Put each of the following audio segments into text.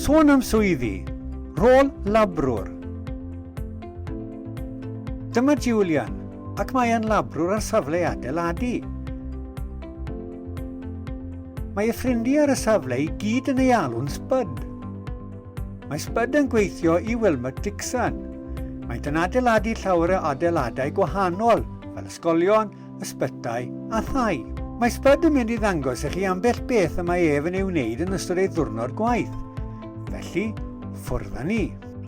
Sôn am swyddi, rôl labrwr. Dyma Julian, ac mae e'n labrwr ar safle adeiladu. Mae y ffrindiau ar y safle i gyd yn ei alw'n Spud. Mae Spud yn gweithio i Wilmot Dixon. Maent yn adeiladu llawer o adeiladau gwahanol, fel ysgolion, ysbytai a thai. Mae Spud yn mynd i ddangos i chi ambell beth y mae ef yn ei wneud yn ystod ei ddwrnod gwaith. Felly, ffwrdd â ni.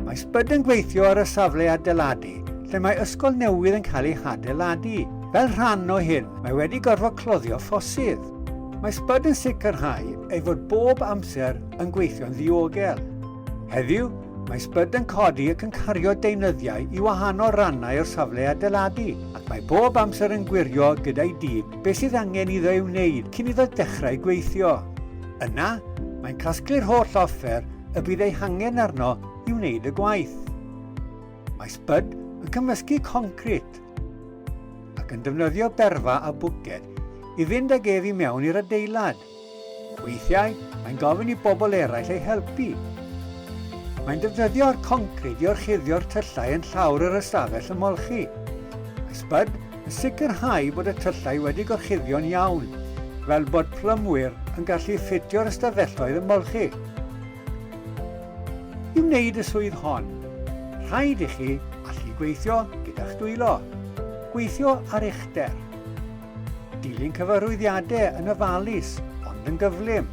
Mae Spud yn gweithio ar y safle adeiladu, lle mae ysgol newydd yn cael ei hadeiladu. Fel rhan o hyn, mae wedi gorfod cloddio ffosydd. Mae Spud yn sicrhau ei fod bob amser yn gweithio'n ddiogel. Heddiw, mae sbyd yn codi ac yn cario deunyddiau i wahanol rannau o'r safle adeiladu, ac mae bob amser yn gwirio gyda'i dîm beth sydd angen iddo ei wneud cyn iddo dechrau gweithio. Yna, mae'n casglu'r holl offer y bydd ei hangen arno i wneud y gwaith. Mae sbyd yn cymysgu concrit ac yn defnyddio berfa a bwced i fynd ag ef i mewn i'r adeilad. Weithiau, mae'n gofyn i bobl eraill ei helpu. Mae'n defnyddio'r concrid i orchuddio'r tyllau yn llawr yr ystafell ymolchi. Mae Spud yn sicrhau bod y tyllau wedi gorchuddio'n iawn, fel bod plymwyr yn gallu ffitio'r ystafelloedd ymolchi. I wneud y swydd hon, rhaid i chi allu gweithio gyda'ch dwylo, gweithio ar uchder. Dilyn cyfarwyddiadau yn ofalus ond yn gyflym.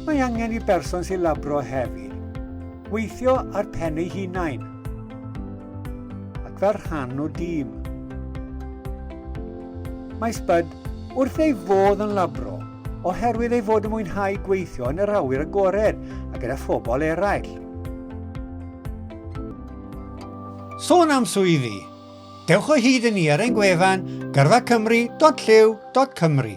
Mae angen i berson sy'n labro hefyd weithio ar pen ei hunain ac fel rhan o dîm. Mae Spud wrth ei fodd yn labro oherwydd ei fod yn mwynhau gweithio yn yr awyr agored a gyda phobl eraill. Sôn am swyddi, Dewch o hyd i ni ar ein gwefan gyrfacymru.llyw.cymru.